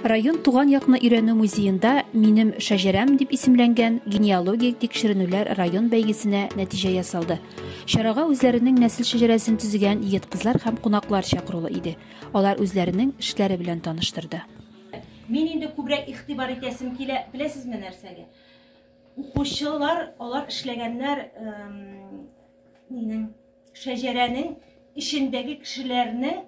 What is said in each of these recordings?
Район туган якны өйрәнү музеенда Минем шәҗәрәм дип исемләнгән генеалогик тикшеренүләр район бәйгесенә нәтиҗә ясалды. Чарага үзләренең нәсел шәҗәрәсен төзегән егет-кызлар һәм кунаклар чакырулы иде. Алар үзләренең эшләре белән таныштырды. Мин инде күбрәк игътибар итәсем килә, беләсезме нәрсәгә? Укучылар, алар эшләгәннәр, эм, минем Шәҗәрәнең эчендәге кешеләрнең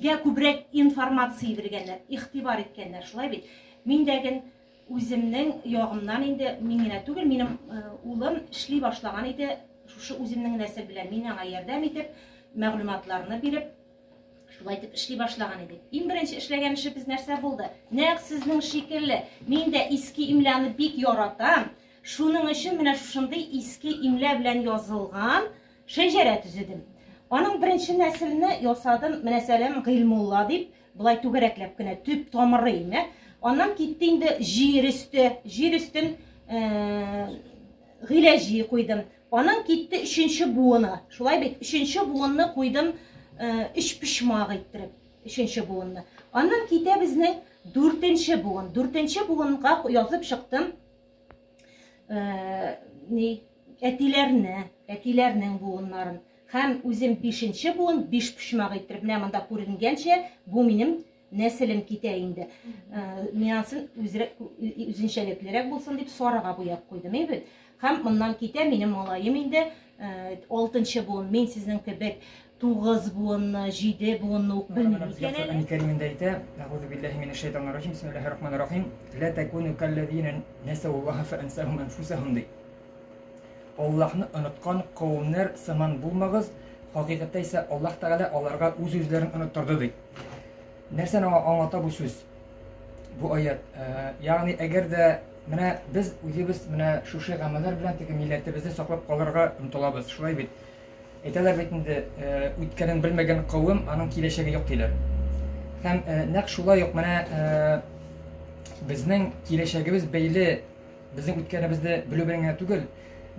гә күбрәк информация биргәннәр, игътибар иткәннәр, шулай бит? Мин дә ген үземнең ягымнан инде мин генә түгел, минем э, улым эшли башлаган иде, шушы үземнең нәсел белән мин аңа ярдәм итеп, мәгълүматларны биреп, шулай итеп эшли башлаган идек. Иң беренче эшләгән эшебез нәрсә булды? Нәкъ сезнең шикелле, мин дә иске имляны бик яратам, Шуның өчен менә шушындый иске имлә белән язылган шәҗәрә төзедем. Аның беренче нәселне ясадым, менә Сәләм Гыйлмулла дип, былай түгәрәкләп кенә төп тамыры име. Аннан китте инде җир өсте, җир өстен э, гыйләҗи куйдым. Аның китте өченче буыны. Шулай бит, өченче буынны куйдым э, өч пишмак иттереп, өченче буынны. Аннан китә безнең дүртенче буын. Дүртенче буынга язып чыктым э, ни әтиләрне әтиләрнең буыннарын һәм үзем бишенче буын биш почмак иттереп менә монда күренгәнчә бу минем нәселем китә инде э, минасын үзенчәлеклерәк булсын дип сарыга буяп куйдым бит һәм моннан китә минем малаем инде Алтынчы буын, мин сезнең кебек тугыз буынны, җиде буынны ук белмим икән әле. Әни Кәримендә әйтә, Әгузу биллаһи минәш шайтанир раҗим, бисмиллаһир рахманир рахим, ла такуну каллазина насауллаһа фа ансахум анфусахум ди. Аллаһны оныткан кавымнар сыман булмагыз, хакыйкатьтә исә Аллаһ Тәгалә аларга үз-үзләрен оныттырды ди. Нәрсәне аңа аңлата бу сүз? Бу аят. Э, ягъни әгәр дә менә без үзебез менә шушы гамәлләр белән теге милләтебезне саклап калырга омтылабыз. Шулай бит. Әйтәләр бит инде, э, үткәнен белмәгән кавым, аның киләчәге юк диләр. Һәм э, нәкъ шулай ук менә безнең киләчәгебез бәйле безнең үткәнебезне белү белән генә түгел,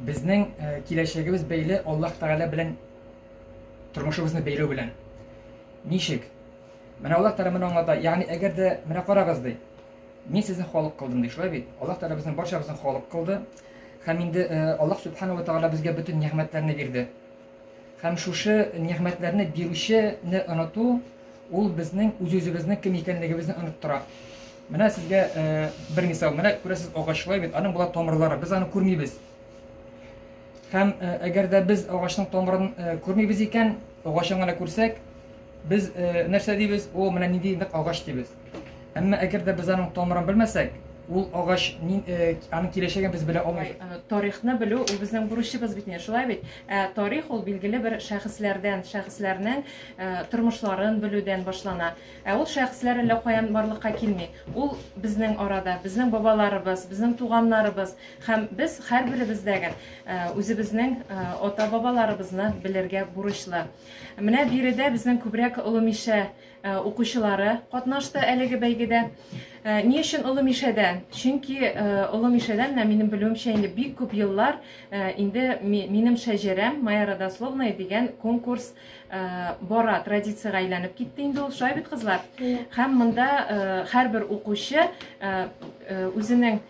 безнең киләчәгебез бәйле Аллаһ Тәгалә белән Тормышыбызны бәйләү белән. Ничек? Менә Аллаһ Тәгалә моны аңлата. Ягъни, әгәр дә, менә карагыз, ди. Мин сезне халык кылдым, ди. Шулай бит? Аллаһ Тәгалә безнең барчабызны халык кылды. Һәм инде э, Аллаһ Сүбхәнә ва Тәгалә безгә бөтен нигъмәтләрне бирде. Һәм шушы нигъмәтләрне бирүчене оныту, ул безнең үз-үзебезнең кем икәнлегебезне оныттыра. Менә сезгә э, бер мисал. Менә күрәсез агач, шулай бит? Аның була тамырлары. Без аны күрмибез. Һәм әгәр дә без агачның тамырын күрмибез икән, агачын гына күрсәк, без нәрсә дибез? О, менә нинди нык агач дибез. Әмма әгәр дә без аның тамырын белмәсәк, ул агач аның киләчәген без белә алмыйбыз. Тарихны белү ул безнең бурычыбыз бит инде, шулай бит? Ә тарих ул билгеле бер шәхесләрдән, шәхесләрнең тормышларын белүдән башлана. Ә ул шәхесләр әллә каян барлыкка килми. Ул безнең арада, безнең бабаларыбыз, безнең туганнарыбыз һәм без һәрберебез дә гел үзебезнең ата-бабаларыбызны белергә бурычлы. Менә биредә безнең күбрәк Олы Мишә укучылары катнашты әлеге бәйгедә. Ни өчен Олы Мишәдән? Чөнки Олы Мишәдән менә минем белүемчә инде бик күп еллар инде минем шәҗәрәм Моя родословная дигән конкурс бара традициягә әйләнеп китте инде ул шулай бит кызлар һәм монда һәрбер укучы үзенең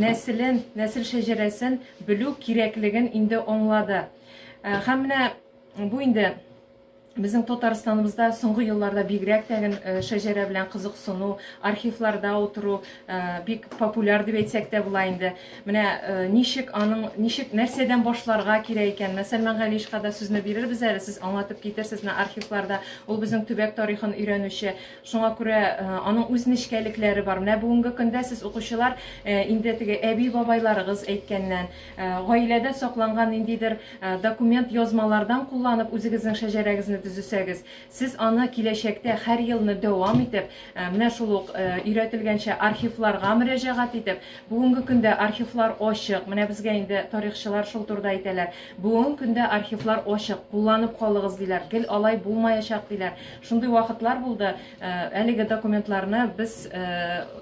нәселен нәсел шәҗәрәсен белү кирәклеген инде аңлады һәм менә бу инде Безнең Татарстаныбызда соңгы елларда бигрәк тәген э, шәҗәрә белән кызыксыну, архивларда утыру э, бик популяр дип әйтсәк тә була инде. Менә ничек аның, ничек, нәрсәдән башларга кирәк икән, Мәсәлмән Галишка да сүзне бирербез әле, сез аңлатып китерсез менә архивларда. Ул безнең төбәк тарихын өйрәнүче. Шуңа күрә аның үз нечкәлекләре бар. Менә бүгенге көндә сез укучылар инде теге әби-бабайларыгыз әйткәннән, гаиләдә сакланган ниндидер документ, язмалардан кулланып үзегезнең шәҗәрәгезне төзесәгез, Сез аны киләчәктә һәр елны дәвам итеп, менә шул ук өйрәтелгәнчә архивларга мөрәҗәгать итеп, бүгенге көндә архивлар ачык, менә безгә инде тарихчылар шул турыда әйтәләр, бүгенге көндә архивлар ачык, кулланып калыгыз, диләр, гел алай булмаячак, диләр. Шундый вакытлар булды, әлеге документларны без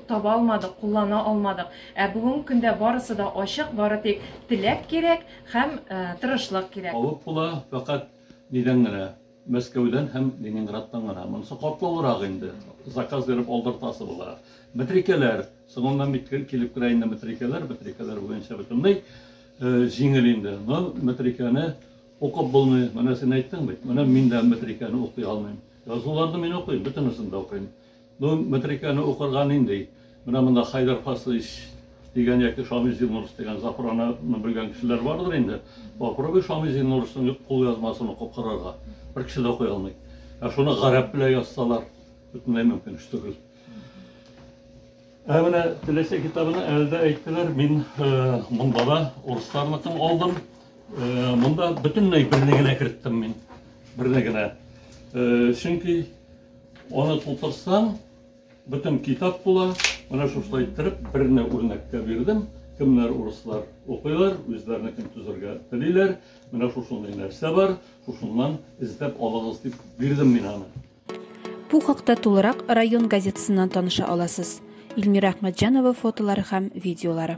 таба алмадык, куллана алмадык. Ә бүгенге көндә барысы да ачык, бары тик теләк кирәк һәм тырышлык кирәк. Алып була, фәкать нидән генә? Мәскәүдән һәм Ленинградтан гына. Монысы катлаулырак инде. Заказ биреп алдыртасы була. Метрикәләр, соңыннан бит килеп керә инде метрикәләр, метрикәләр буенча бөтенләй җиңел инде. Но метрикәне укып булмый. Менә син әйттең бит. Менә мин дә метрикәне укый алмыйм. Язуларны мин укыйм, бөтенесен дә укыйм. Бу метрикәне укырга нинди? Менә монда Хәйдәр Фасыйч дигән яки Шамил Зиннурс дигән Зафрананы белгән кешеләр бардыр инде. Попробуй Шамил Зиннурсның кулъязмасын укып карарга. Бер кеше дә укый алмый. Ә шуны гарәп белән язсалар, бөтенләй мөмкин эш түгел. Ә менә Теләсә китабына әле дә әйттеләр, мин монда да урысларныкын алдым. Монда бөтенләй берне генә керттем мин. Берне генә. Чөнки Аны тутырсаң, бөтен китап була. Менә шушылай иттереп берне үрнәккә бирдем. Кемнәр урыслар укыйлар, үзләренекен төзергә телиләр. Менә шушындый нәрсә бар, шушыннан эзләп алыгыз дип бирдем мин аны. Бу хакта тулырак район газетасыннан таныша аласыз. Ильмира Әхмәтҗанова фотолары һәм видеолары.